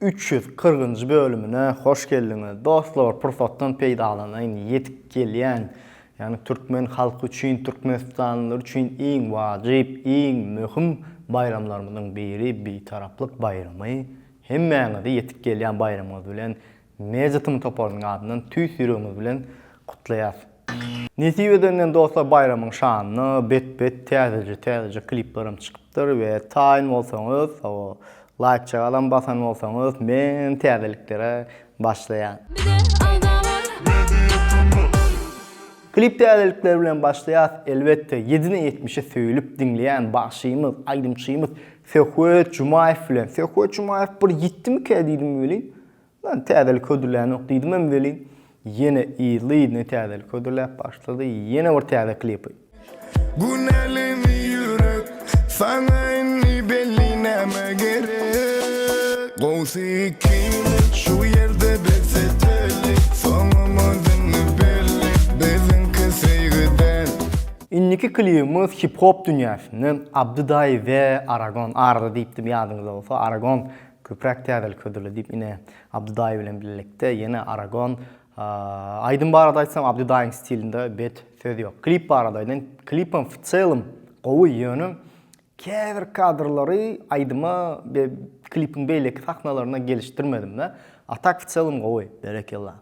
Üç ýüz kyrkynjy bölümine hoş geldiňiz dostlar pursatdan peýdalanaýyn ýetip gelýän ýagny türkmen halky üçin türkmenistanlylar üçin iň wajyp iň möhüm baýramlarymyzyň biri Bitaraplyk baýramy hemmäňizi ýetip gelýän baýramyňyz bilen Media Tm toparynyň adyndan tüýs ýüregimiz bilen gutlaýas. Nesip edenden dostlar baýramyň şanyna bet bet täzeje täzeje kliplerim çykypdyr we taýyn bolsaňyz hawa laýk çagalam basan bolsaňyz men täzeliklere başlaýan. Klip täzelikleri bilen başlaýas elbetde ýedide ýetmişi söýlüp diňleýän bagşymyz aýdymçymyz Söhbet Jumaýew bilen Söhbet Jumaýew bir ýitdimikä diýdim welin Men täzelik hödürlänok diýdimem welin, ýene yzly-yzyna täzelik hödürläp başlady, ýene bir täze klipi. Günelimi ýürek, saňa indi belli näme gerek. Gowsy ikimiz şu ýerde bes eteli, soňumyz indi belli, biziňki söýgüden. Indiki klibimiz hip-hop dünýäsinden Abdy Daýy we Aragon, Arda diýipdim ýadyňyzda bolsa, Aragon Köpräk täzelik hödürle diýip ine Abdy daýy bilen bilelikde ýene Aragon Aýdym barada aýtsam Abdy daýyň stilinde bet söz ýok. Klip barada aýdaýyn klipem w çelem gowy ýöne käbir kadrlary aýdyma be klipiň beýleki sahnalaryna gelişdirmedimde a tak w çelem gowy. Berekella.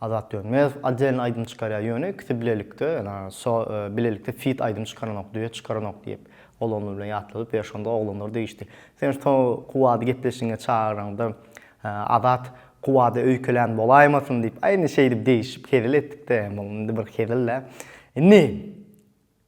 Azat Dönmezow otdelny aýdym çykarýar ýöne ikisi bilelikde ýöne so bilelikde fit aýdym çykaranok duet çykaranok diýip ol ony bilen ýatladyp ber şonda oglanlar degişdi sen so kuwwady gepleşigiňe çagyranda Azat kuwwada öýkelän bolaýmasyn diýip aýny şeýdip degişip hezil etdikde indi bir hezilde indi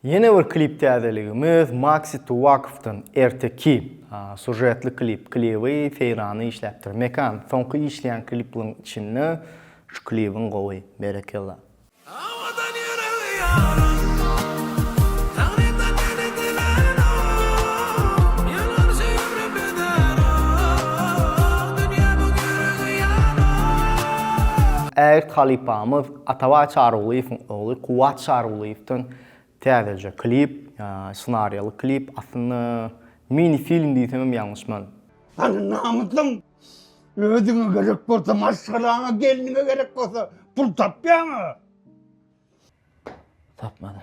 Ýene bir klip täzeligimiz Maxi Tuwakow-dan Erteki sužetli klip. Klibi Seýranda işläpdir. Mekan, soňky işleýän kliplaryň içinde şu klibiň gowy. Berekella. Awadan ýüregi ýaran Tagrydan meni dilen o Ýylgyrjy ömrüm beder o Dünýä bu gürrüňi ýan o. Ägirt halypamyz Atabay Çarygulyýewiň ogly Kuwwat Çarygulyýewden täzeje klip, ssenariýaly klip, aslynda mini film diýsemem ýalňyşmazyn. Hany namysyň? Özüňe gerek bolsa maşgalaňa, gelniňe gerek bolsa pul tapýaňa? Tapmadym.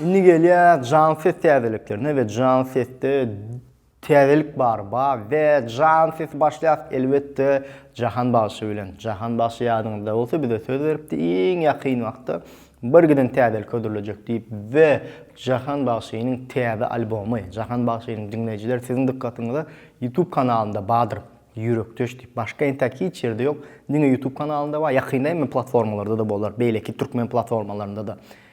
Indi gelýäs janly ses täzeliklerine we janly sesde täzelik bar ba we janly sesi başlaýas elbetde Jahan bagşy bilen. Jahan bagşy ýadyňyzda bolsa bize söz beripdi iň ýakyn wagtda bir giden täzelik hödürlejek diýip we Jahan bagşynyň täze albomy Jahan bagşynyň diňleýjiler siziň dykgatyňyza YouTube kanalynda badyr Ýürekdeş diýip başga entäk hiç ýerde ýok diňe YouTube kanalynda bar ýakynda emmi platformalarda-da bolar beýleki türkmen platformalarynda-da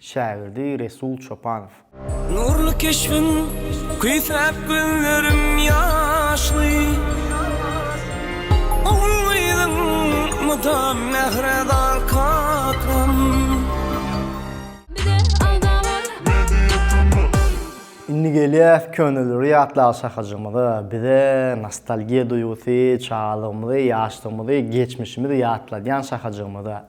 Şägirdi Resul Çopanow. Nurly keşbiň küýsäp gözlerim ýaşly, Ogul-gyzyň mydam mähre dal kakam. Indi gelýäs köneleri ýatlaga şahajygymyza, bize nostalgiýa duýgusy, çagalygymyzy, ýaşlygymyzy, geçmişimizi ýatladýan şahajygymyza.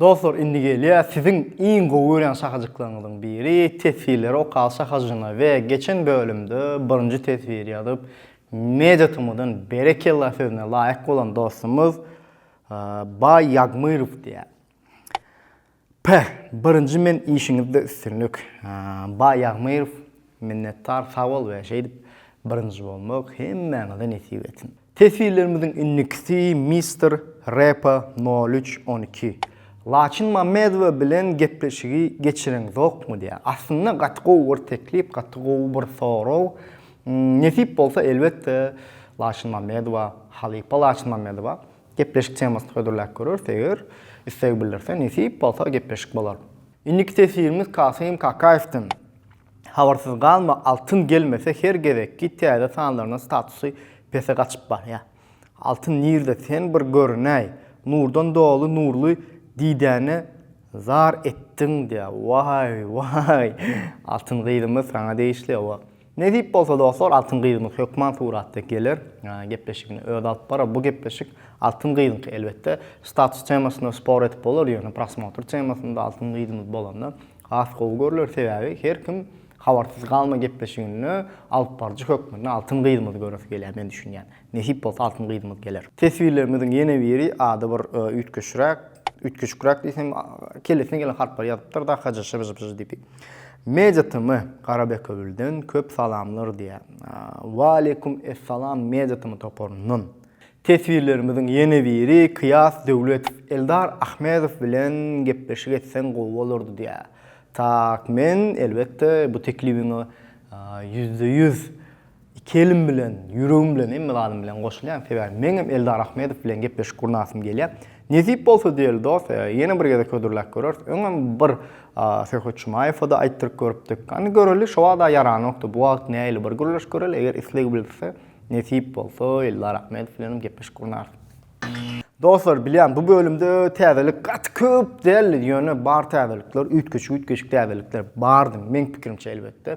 Dostlar indi gelýär siziň iň gowy görýän şahajyklaryňyzyň biri teswirleri okal şahajyna we geçen bölümde birinji teswir ýazyp media tmdan berekella sözüne laýyk bolan dostumyz Baý Ýagmyrow diýýär. Päh! Birinji men işiňizde üstünlik. Baý Ýagmyrow minnetdar sag bol we şeýdip birinji bolmak hemmäňize nesip etsin. Teswirlerimiziň indikisi Mister Repo nol üç on iki Laçyn Mamedowa bilen gepleşigi geçireňzokmy diýýär. Aslynda gaty gowy bir teklip, gaty gowy bir sorag. Nesip bolsa elbetde Laçyn Mamedowa, halypa Laçyn Mamedowa Gepleşik temasyny hödürläp görüris eger isleg bildirse nesip bolsa gepleşik bolar. Indiki teswirimiz Kasym Kakaýewden Habarsyz galma altyn gelmese her gezekki täze sanlaryna statusy pese gaçyp barýa. Altyn nirde sen bir görünäý. Nurdan doly nurly didäne zar etdiň diýä. Waý waý. Altyn gyzymyz saňa degişli owa. Nesip bolsa dostlar Altyn gyzymyz hökman suratda geler, gepleşigini özi alyp barar. Bu gepleşik Altyn gyzyňky elbetde. Status temasyna spor edip bolar, ýöne prosmotr temasynda Altyn gyzymyz bolanda has gowy görler. Sebäbi her kim Habarsyz galma gepleşiginde alyp baryjy hökmünde Altyn gyzymyzy göresi gelýär men düşünýän. Nesip bolsa altyn gyzymyz geler. Teswirlerimiziň ýene biri ady bir üýtgeşräk, üýtgeşikräk diýsem, kellesine gelen harplary ýazypdyr da HJŞBJBJ diýip. Media TM Garabekewülden köp salamlar diýýär. Waleýkum essalam Media TM toparyndan. Teswirlerimiziň ýene biri Kyýas Döwletow Eldar Ahmedow bilen gepleşik etseň gowy bolardy diýýär. Tak men elbetde bu teklibiňe ýüzde ýüz Iki elim bilen, ýüregim bilen, hemme zadym bilen goşulýan, sebäbi meňem Eldar Ahmedow bilen gepleşik gurnasym gelýär. Nesip bolsa diýeli dos, ýene bir gezek hödürläp göreris. Öňem bir Söhbet Jumaýewa-da aýtdyryp görüpdik. Hany göreli, şo wagt-a ýaranokdy, bu wagt nähili bir gürleşip göreli, eger isleg bildirse, nesip bolsa Eldar Ahmedow bilenem gepleşik gurnarys. Dostlar, bilýän, bu bölümde täzelik gaty köp däldi, ýöne bar täzelikler, üýtgeşik-üýtgeşik täzelikler bardy, meň pikirimçe elbetde.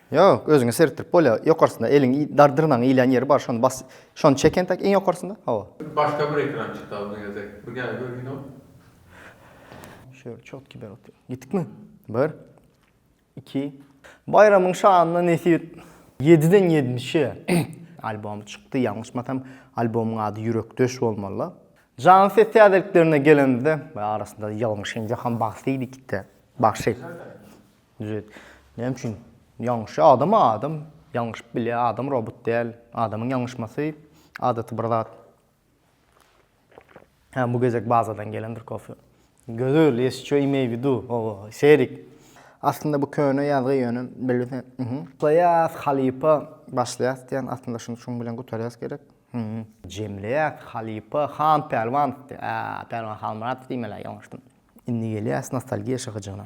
Ýok, özüňe seretdirip bolýar. Ýokarsynda eliň dar dyrnagyň ilýän ýeri bar, şony bas. Şony çek entek iň ýokarsynda. Hawa. Başga bir ekran çyk dagy bu ýerde. Bir gel görginow. Şeýle çotki ber otur. Gitdikmi? Bir. Iki. Baýramyň şanyna nesip et. Ýediden ýetmişe albomy çykdy. Ýalňyşmasam, albomyň ady Ýürekdeş bolmaly. Janly ses täzeliklerine gelenimizde, arasynda ýalňyşyň Ýohan Bagsydyk-da. Bagşy. Düzet. Näme üçin? Ýalňyşýar. Adam-a adam. Ýalňyşyp bilýär. Adam robot däl. Adamyň ýalňyşmasy adaty bir zat. Hä, bu gezek bazadan gelendir kofe. Gözel, ýeşçö imeý widu. Owo, serik. Aslynda bu köne ýazgy ýöne bilse, uhuh. Başlaýas halypa. Başlaýas diýýän, aslynda şuny şuň bilen gutarýas gerek. Hümm. Jemleýäs halypa. Han Pälwanow diýýär. Ää, Pälwan Halmyradow diýmeli-ä, ýalňyşdym. Indi gelýäs nostalgiýa şyhyjygyna.